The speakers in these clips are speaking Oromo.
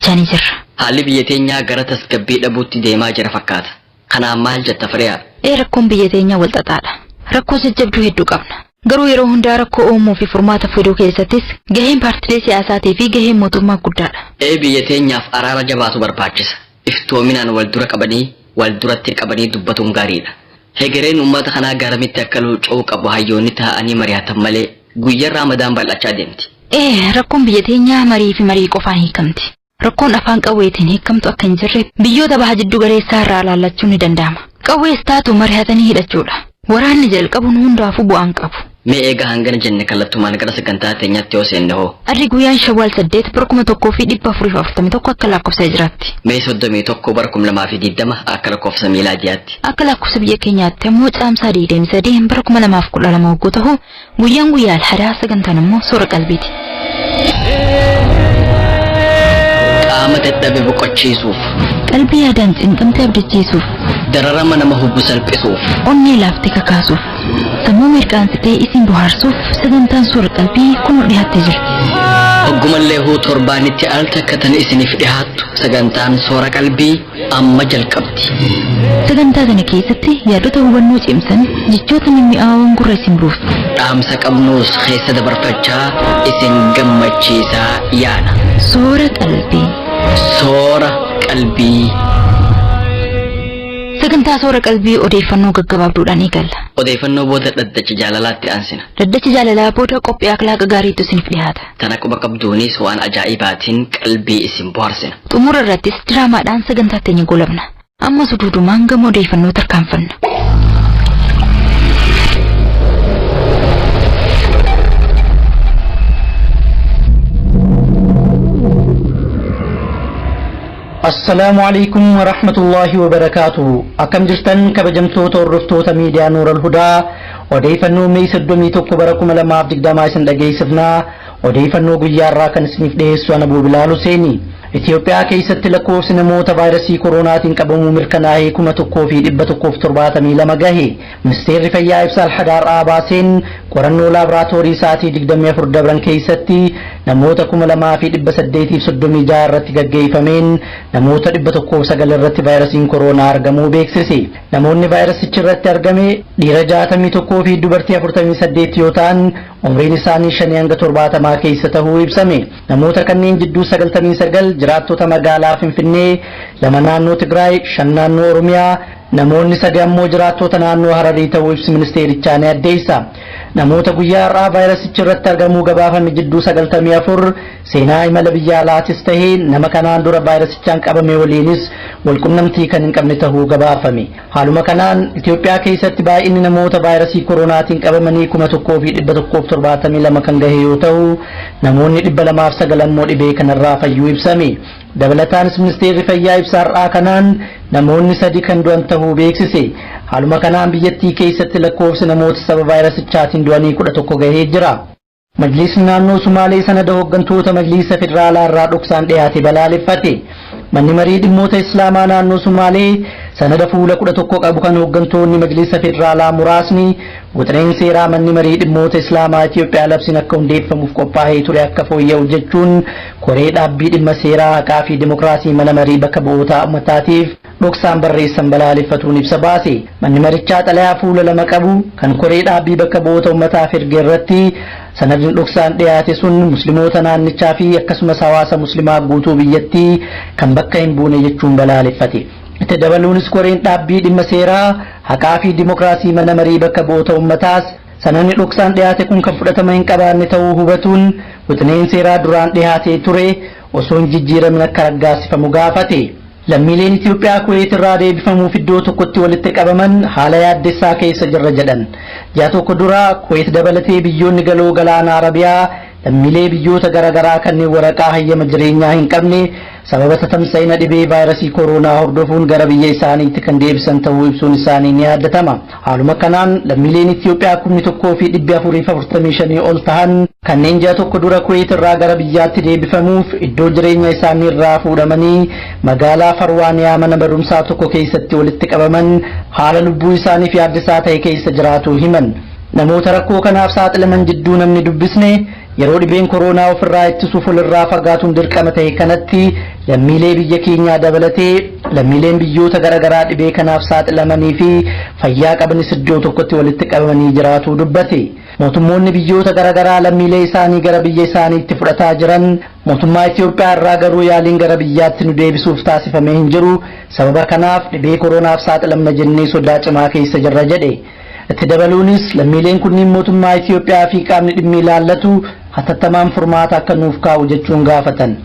jani jirra. Haalli biyya teenyaa gara tasgabbii dhabuutti deemaa jira fakkaata. Kanaan maal jetta Firiyaa? Ee rakkoon biyya teenyaa wal xaxaadha. Rakkoo jajjabduu hedduu qabna. Garuu yeroo hundaa rakkoo uumuu fi furmaata fiduu keessattis gaheen paartilee siyaasaatii fi gaheen mootummaa guddaadha. Ee biyya teenyaaf araara jabaatu barbaachisa. Iftoominaan wal dura qabanii wal duratti qabanii dubbatuun gaariidha. Hegereen uummata kanaa garamitti akka luuca'uu qabu hayyoonni taa'anii mari'atan malee Guyyan Ramadan bal'achaa deemti. Ee, rakkoon biyya teenyaa marii fi marii qofaan hiikamti. Rakkoon afaan qawweetiin hiikamtu akka hin jirre biyyoota baha jiddu galeessaa irraa ilaallachuun ni danda'ama. Qawwees taatu marihatanii hidhachuudha. Waraanni jalqabuun hundaafuu bu'aan qabu. Mee eega hangana jenne kallattumaan gara sagantaa teenyaatti yoo seenne hoo? Arri guyyaan Shawwaal 8 bara 1441 akka lakkoofsa Hijiraatti. Mee 31 bara 2020 akka lakkoofsa miilaa ji'aatti. Akka lakkoofsa biyya keenyaatti ammoo caamsaa 23 bara 2012 hogguu ta'u Guyyaan guyyaa alhadaa sagantaan ammoo soora qalbiiti. Qaama dadhabe boqochiisuuf, Qalbii yaadaan cinqamte abdachiisuuf, dararama nama hubu salphisuuf, onnee laafte kakaasuuf, sammuu mirqaansitee isin bohaarsuuf sagantaan soora qalbii kunoo dhiyaattee jirti. oggumallee huu torbaanitti al takka tan isiniif dhihaattu sagantaan soora qalbii amma jalqabdi. Sagantaa kana keessatti yaadota hubannoo cimsan jechoota mimmi'aawoon gurra isin buufna. Dhaamsa qabnuus keessa dabarfachaa isin gammachiisaa yaana. Soora qalbii. Soora qalbii. Sagantaa soora qalbii odeeffannoo gaggabaabduudhaan eegalla. Odeeffannoo booda dhaddacha jaalalaatti aansina. Dhaddacha jaalalaa booda qophii akhlaaqa gaariitu isiniif dhiyaata. Tana quba qabduunis waan ajaa'ibaatiin qalbii isin bohaarsina. Xumura irrattis diraamaadhaan sagantaa teenya goolabna. Amma suduudumaan gama odeeffannoo tarkaanfanna. Assalaamu alaikum wa rahmatullahi wa barakaatu. Akkam jirtan kabajamtoota hordoftoota miidiyaa Nuural Hudaa Odeeyfannoo May 31 bara 2020 isin dhageeysifna. Odeeyfannoo guyyaa irraa kan isiniif dhiyeessu ana Buubilaal Huseeni. Itiyoophiyaa keeysatti lakkoofsi namoota vaayrasii koroonaatiin qabamuu mirkanaahee 1172 gahe. Ministeerri Fayyaa ibsa Alhada har'aa baaseen qorannoo laabraatoorii sa'atii 24 dabran keeysatti namoota 2836 irratti gaggeeyfameen namoota 109 irratti vaayrasiin koroonaa argamuu beeksise. Namoonni vaayirasichi irratti argame dhiira 61 fi dubartii 48 yoo ta'an umriin isaanii 5 hanga 70 keessa tahuu ibsame. Namoota kanneen jidduu 99 jiraattota magaalaa Finfinnee, lama naannoo Tigraay, shan naannoo Oromiyaa, namoonni sadi ammoo jiraattota naannoo Hararii ta'uu ibsi ministeerichaa ni addeessa. Namoota guyyaa har'aa vaayirasichi irratti argamuu gabaafame jidduu 94 Seenaa imala biyya alaatis tahe nama kanaan dura vaayirasichaan qabame waliinis walqunnamtii kan hin qabne tahuu gabaafame. Haaluma kanaan Itoophiyaa keessatti baay'inni namoota vaayirasii koroonaatiin qabamanii 1172 kan gahe yoo tahu, namoonni 209 ammoo dhibee kanarraa fayyuu ibsame. Dabalataanis Ministeerri Fayyaa ibsa har'aa kanaan namoonni sadi kan du'an tahuu beeksise. Haaluma kanaan biyyattii keessatti lakkoofsi namoota sababa vaayirasichaatiin du'anii 11 gahee jira. Majliisni naannoo Sumaalee sanada hoggantoota Majliisa Federaalaa irraa dhoksaan dhiyaate balaaleffate. Manni marii dhimmoota Islaamaa naannoo Sumaalee sanada fuula 11 qabu kan hoggantoonni Majliisa Federaalaa muraasni wixineen seeraa manni marii dhimmoota Islaamaa Itiyoophiyaa labsiin akka hundeeffamuuf qophaa'ee ture akka fooyya'u jechuun koree dhaabbii dhimma seeraa haqaa fi dimokiraasii mana marii bakka bu'ootaa ummataatiif dhoksaan barreessan balaaleffatuun ibsa baase. Manni marichaa xalayaa fuula lama qabu kan koree dhaabbii bakka bu'oota ummataaf erge irratti sanadni dhoksaan dhiyaate sun muslimoota naannichaa fi akkasumas hawaasa muslimaa guutuu biyyattii kan bakka hin buune jechuun balaaleffate. Itti dabaluunis koreen dhaabbii dhimma seeraa haqaa fi dimokiraasii mana marii bakka bu'oota ummataas sanadni dhoksaan dhiyaate kun kan fudhatama hin qabaanne ta'uu hubatuun wixineen seeraa duraan dhiyaatee ture osoo hin jijjiiramin akka raggaasifamu gaafate. Lammiileen Itiyoophiyaa Kuweet irraa deebifamuuf iddoo tokkotti walitti qabaman haala yaaddessaa keessa jirra jedhan. Ji'a tokko dura Kuweet dabalatee biyyoonni Galoo Galaanaa Arabiyaa lammiilee biyyoota gara garaa kanneen waraqaa hayyama jireenyaa hin qabne sababa tatamsa'ina dhibee vaayrasii koroonaa hordofuun gara biyya isaaniitti kan deebisan ta'uu ibsuun isaanii ni yaadatama. Haaluma kanaan lammiileen Itiyoophiyaa kumni 1 fi 445 ol tahan kanneen ji'a tokko dura Kuweet irraa gara biyyaatti deebifamuuf iddoo jireenya isaanii irraa fuudhamanii magaalaa Farwaaniyaa mana barumsaa tokko keessatti walitti qabaman haala lubbuu isaaniif yaaddisaa ta'e keessa jiraatuu himan. Namoota rakkoo kanaaf saaxilaman jidduu namni dubbisne Yeroo dhibeen koroonaa ofirraa ittisuuf walirraa fagaatuun dirqama tahe kanatti lammiilee biyya keenyaa dabalatee lammiileen biyyoota gara garaa dhibee kanaaf saaxilamanii fi fayyaa qabanis iddoo tokkotti walitti qabamanii jiraatuu dubbate. Mootummoonni biyyoota gara garaa lammiilee isaanii gara biyya isaaniitti fudhataa jiran mootummaa Itoophiyaa irraa garuu yaaliin gara biyyaatti nu deebisuuf taasifamee hin jiru. Sababa kanaaf dhibee koroonaaf saaxilamna jennee sodaa cimaa keessa jirra jedhe. Itti dabaluunis lammiileen kunniin mootummaa Itiyoophiyaa fi qaamni dhimmi ilaallatu hatattamaan furmaata akka nuuf kaa'u jechuun gaafatan.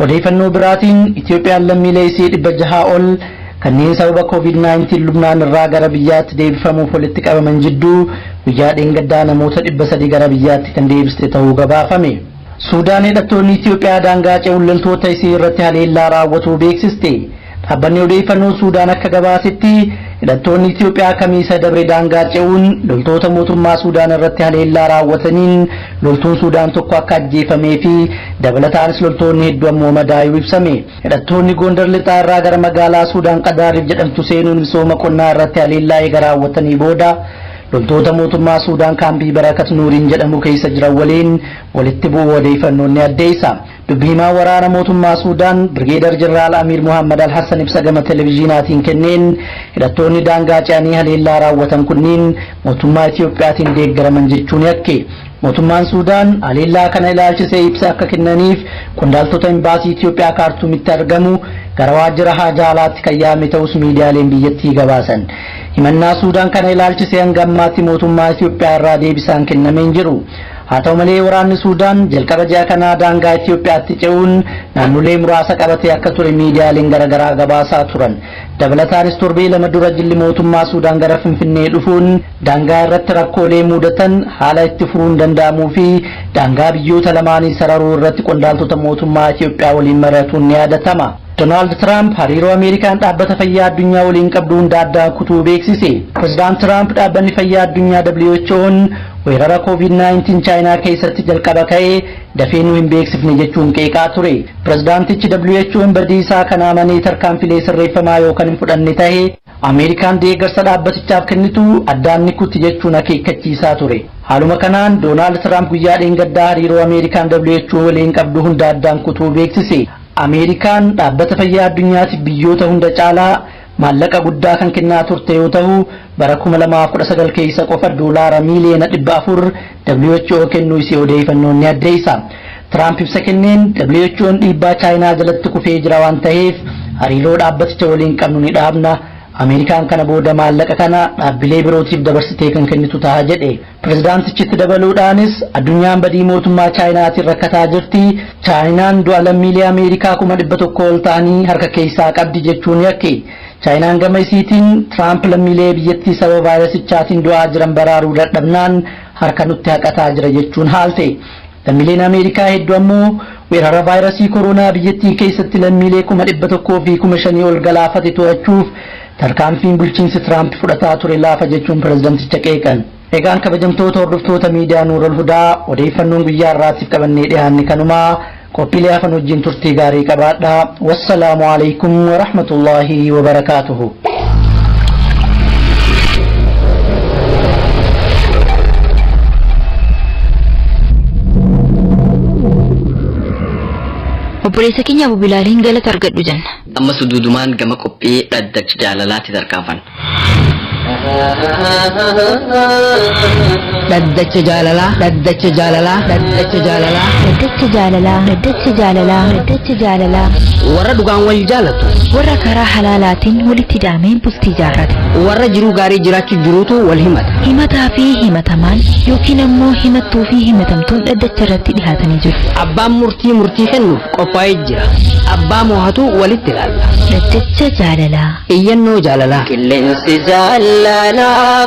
Odeeyfannoo biraatiin Itiyoophiyaan lammiilee isii 600 ol kanneen sababa Covid 19 Lubnaan irraa gara biyyaatti deebifamuuf walitti qabaman jidduu guyyaa dheengaddaa namoota 300 gara biyyaatti kan deebiste tahuu gabaafame. Suudaan hidhattoonni Itiyoophiyaa daangaa ce'uun loltoota isii irratti haleellaa raawwatuu beeksiste. Dhaabbanni odeeffannoo Suudaan akka gabaasetti hidhattoonni Itiyoophiyaa Kamiisa dabre daangaa ce'uun loltoota mootummaa Suudaan irratti haleellaa raawwataniin loltuun Suudaan tokko akka ajjeefamee fi dabalataanis loltoonni hedduu ammoo madaayuu ibsame. Hidhattoonni Goondar Lixaa irraa gara magaalaa Suudaan Qadaariif jedhamtu seenuun misooma qonnaa irratti haleellaa eega raawwatanii booda Loltoota mootummaa Suudaan kaambii Barakat Nuuriin jedhamu keessa jiran waliin walitti bu'uu odeeyfannoon ni addeessa. Dubbi himaa waraana mootummaa Suudaan Birgeedar Jeneraal Amiir Muhammad Al-Hassan ibsa gama televiziinaatiin kenneen hidhattoonni daangaa ce'anii haleellaa raawwatan kunniin mootummaa Itiyoophiyaatiin deeggaraman jechuun yakke. Mootummaan Suudaan haleellaa kana ilaalchisee ibsa akka kennaniif qondaaltota Imbaasii Itiyoophiyaa Kaartuumitti argamu gara waajjira haajaa alaatti kan yaame ta'us miidiyaaleen biyyattii gabaasan. Himannaa Suudaan kana ilaalchisee hanga ammaatti mootummaa Itiyoophiyaa irraa deebisaan kennamee hin jiru. Haa ta'u malee waraanni Suudaan jalqaba ji'a kanaa daangaa Itiyoophiyaatti ce'uun naannolee muraasa qabatee akka ture miidiyaaleen garaagaraa gabaasaa turan. Dabalataanis torbee lama dura jilli mootummaa Suudaan gara Finfinnee dhufuun Daangaa irratti rakkoolee muudatan haala itti furuun danda'amuu fi daangaa biyyoota lamaanii sararuu irratti qondaaltota mootummaa Itiyoophiyaa waliin mari'atuun ni yaadatama. Donaald Tiraamp hariiroo Ameerikaan Dhaabbata Fayyaa Addunyaa waliin qabdu hunda addaan kutuu beeksise. Pirezidaant Tiraamp Dhaabbanni Fayyaa Addunyaa WHO'n weerara Covid-19 Chaayinaa keessatti jalqaba ka'e dafee nu hin beeksifne jechuun qeeqaa ture. Pirezidaantichi WHO'n badiisaa kana amanee tarkaanfilee sirreeffamaa yoo kan hin fudhanne tahe Ameerikaan deeggarsa dhaabbatichaaf kennitu addaan ni kutti jechuun akeekkachiisaa ture. Haaluma kanaan Doonaald Tiraamp guyyaa dheengaddaa hariiroo Ameerikaan WHO waliin qabdu hunda addaan kutuu beeksise. Ameerikaan Dhaabbata Fayyaa Addunyaatiif biyyoota hunda caalaa maallaqa guddaa kan kennaa turte yoo tahu, bara 2019 keessa qofa doolaara miiliyoona 400 WHO kennuu isii odeeyfannoon ni addeeysa. Tiraamp ibsa kenneen WHO'n dhiibbaa Chaayinaa jalatti kufee jira waan taheef hariiroo dhaabbaticha waliin qabnu ni dhaabna, Ameerikaan kana booda maallaqa kana dhaabbilee birootiif dabarsitee kan kennitu taha jedhe. Pirezidaantichi itti dabaluudhaanis addunyaan badii mootummaa Chaayinaatiin rakkataa jirti, Chaayinaan du'a lammiilee Ameerikaa kuma dhibba tokko ol tahanii harka keessaa qabdi jechuun yakke. Chaayinaan gama isiitiin Tiraamp lammiilee biyyattii sababa vaayirasichaatiin du'aa jiran baraaruu dadhabnaan harka nutti haqataa jira jechuun haalte. Lammileen Ameerikaa heddu ammoo weerara vaayrasii koroonaa biyyattii keessatti lammiilee kuma 100 fi kuma 5 ol galaafate to'achuuf tarkaanfiin bulchiinsi Tiraamp fudhataa ture laafa jechuun pirezidanticha qeeqan. Egaan kabajamtoota hordoftoota miidiyaa Nuurol Hudaa odeeyfannoon guyyaa har'aatiif qabannee dhihaanne kanuma. Qophiilee hafan wajjiin turtii gaarii qabaadhaa. Wassalaamu Aleeykum Warahmatullaahi Wabarakaatuhu. obboleessa keenya abu bilaaliin galata argadhu jenna amma suduudumaan gama qophii dhaddacha jaalalaatti tarkaanfanna Dhaddacha jaalalaa. Dhaddacha jaalalaa. Dhaddacha jaalalaa. Daddacha jaalalaa. Daddacha jaalalaa. Daddacha jaalalaa. Warra dhugaan wal jaalatu. Warra karaa halaalaatiin walitti daamee bultii jaarrate. Warra jiruu gaarii jiraachuu jiruutu wal himata. Himataa fi himatamaan yookiin ammoo himattuu fi himatamtuun dhaddacha irratti dhihaatanii jiru. Abbaan murtii murtii kennuuf qophaa'ee jira. Abbaa moohatu walitti ilaalla. Daddacha jaalalaa. Iyyannoo jaalalaa. Qilleensi jaalalaa.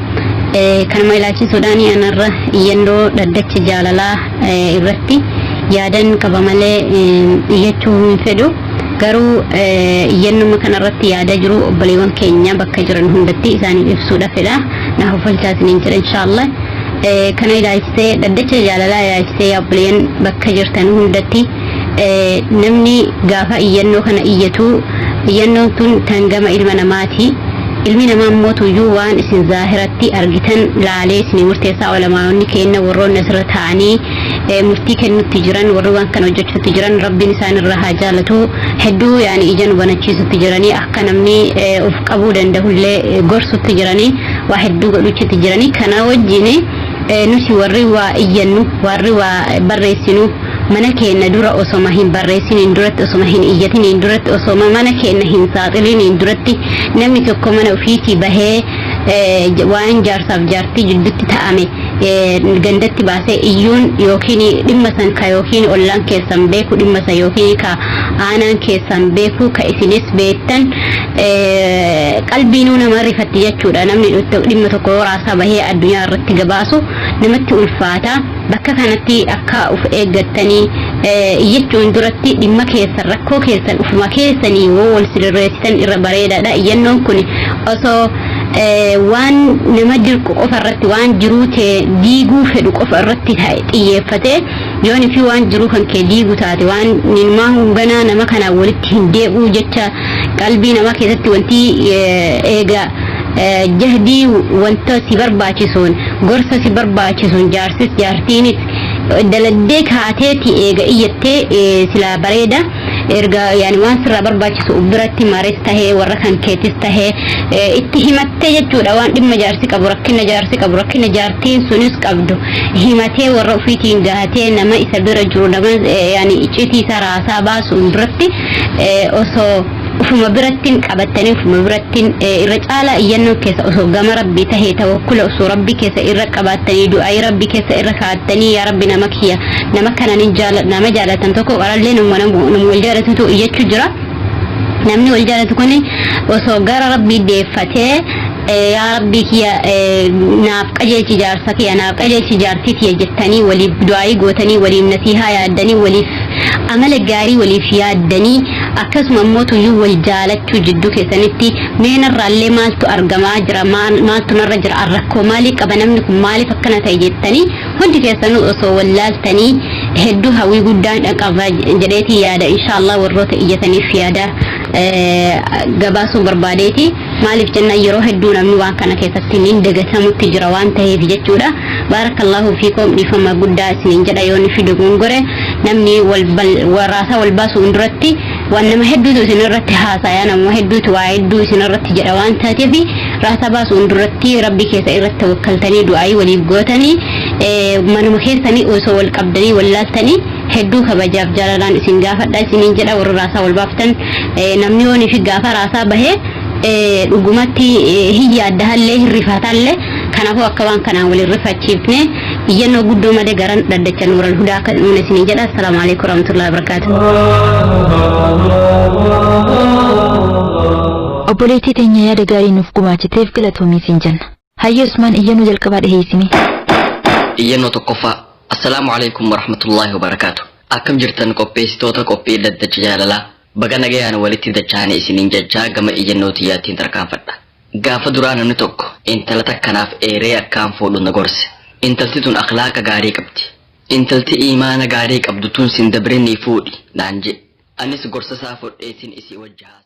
Kanuma ilaalchisuudhaan anarra iyyannoo dhaddacha jaalalaa irratti yaadan qaba malee iyyachuu hin fedhu. Garuu iyyannuma kanarratti yaada jiru obboleewwan keenya bakka jiran hundatti isaaniif ibsuudha fedha. Na hofalchaa isiniin jedha inshaallah. Kana ilaalchisee dhaddacha jaalalaa ilaalchisee obboleeyyan bakka jirtan hundatti Namni gaafa iyyannoo kana iyyatu iyyannoon tun tan gama ilma namaati. Ilmi namaa immoo tuyyuu waan isin zaahiratti argitan laalee isinii murteessaa olamaa'onni keenna warroonni asirra taa'anii murtii kennutti jiran warri waan kana hojjechuutti jiran rabbiin isaan irraa haa jaalatu hedduu yaani ija nu banachiisutti jiranii akka namni of qabuu danda'ullee gorsutti jiranii waa hedduu godhuchitti jiranii kana wajjin nuti warri waa iyyannu warri waa barreessinu mana keenna dura osoma hin barreessiniin duratti osoma hin iyyatiniin duratti osoma mana keenna hin saaxiliniin duratti namni tokko mana ufiitii bahee waan jaarsaaf jaartii jiddutti ta'ame gandatti baasee iyyuun yookiin dhimma san ka yookiin ollaan keessan beeku dhimma san yookiin ka aanaan keessan beeku ka isinis beektan qalbiinuu nama rifatti jechuudha namni dhimma tokko raasaa bahee addunyaa irratti gabaasu namatti ulfaata. Bakka kanatti akka uf eeggattanii iyyachuun duratti dhimma keessan rakkoo keessan ufuma keessanii yoo wal sirreessitan irra bareedaadha. Iyyannoon kun osoo waan nama dirqu qofa irratti waan jiruu tee diiguu fedhu qofa irratti xiyyeeffate yoon fi waan jiruu kan kee diigu taate waan nimaa hunganaa nama kanaan walitti hin deebi'uu jecha qalbii namaa keessatti wanti eega jahdii wanta si barbaachisuun gorsa si barbaachisuun jaarsis jaartiinis daladdee kaateeti eega iyyattee silaa bareeda erga yaani waan sirraa barbaachisu biratti maris tahee warra kan keetis tahee itti himattee jechuudha waan dhimma jaarsi qabu rakkina jaarsi qabu rakkina jaartiin sunis qabdu himatee warra ofiitiin gahatee nama isa bira jiru nama yaani iccitii isaa raasaa baasuun biratti osoo ufuma birattiin qabattanii ufuma birattiin irra caalaa iyyannoo keessa osoo gama rabbii tahee tawakkula osoo rabbii keessa irra qabaattanii du'aayii rabbii keessa irra kaa'attanii yaa rabbi nama kiyya nama kanaan nama jaalatan tokko qarallee nama wal jaalatutu iyyachuu jira namni wal jaalatu kun osoo gara rabbii deeffatee yaa rabbii kiyya naaf qajeelchi jaarsa kiyya naaf qajeelchi jaartii tiyya jettanii waliif du'aayii gootanii waliif nasiihaa yaaddanii waliif amala gaarii waliif yaaddanii akkasuma immoo tuyyuu wal jaalachuu jidduu keessanitti mee narraallee maaltu argamaa jira maal- maaltu narra jira an rakkoo maalii qaba namni kun maaliif akkana ta'e jettanii hundi keessanuu osoo wal laaltanii hedduu hawwii guddaan qaba jedheetii yaada inshaallah warroota iyyataniif yaada eh, gabaasuu barbaadeeti. maaliif jennaan yeroo hedduu namni waan kana keessatti niin dagatamutti jira waan ta'eef jechuudha baarakallaahu fiikoom dhiifama guddaa isiniin jedha yoo nufi dogongore namni warraasaa wal baasuun duratti waan nama hedduutu isin irratti haasaya nama hedduutu waa hedduu isin irratti jedha waan taateef raasaa baasuun duratti rabbi keessa irratti wakkaltanii du'aayii waliif gootanii manuma keessanii osoo wal qabdanii wal laaltanii hedduu kabajaaf jaalalaan isin gaafadha isiniin jedha warri raasaa wal baaftan namni yoon fi gaafa raasaa bahee dhugumatti hin yaadda hallee hin rifataallee kanaafuu akka waan kanaan waliin rifachiifne iyyannoo guddoo malee garan dhaddacha nuural hudaa akka nuun isiniin jedha assalaamu alaikum warahmatullahi wabarakaatu. obboleettii teenya yaada gaarii nuuf gumaachiteef galatoomi siin jenna Hayyee Usmaan iyyannoo jalqabaa dhiheessi mee. Iyyannoo tokkoffaa. Assalaamu alaikum warahmatullaahi wabarakaatu. Akkam jirtan qopheessitoota qophii daddacha jaalalaa. Baga nagayaan walitti dachaane isiniin jechaa gama iyyannoo tiyyaattiin tarkaanfadha. Gaafa duraa namni tokko intala takkanaaf eeree akkaan fuudhu na gorse. Intalti tun akhlaaqa gaarii qabdi. Intalti imaana gaarii qabdu tun sin dabrinii fuudhi naan jedhe. Anis gorsa isaa fudhee sin isii wajji haase.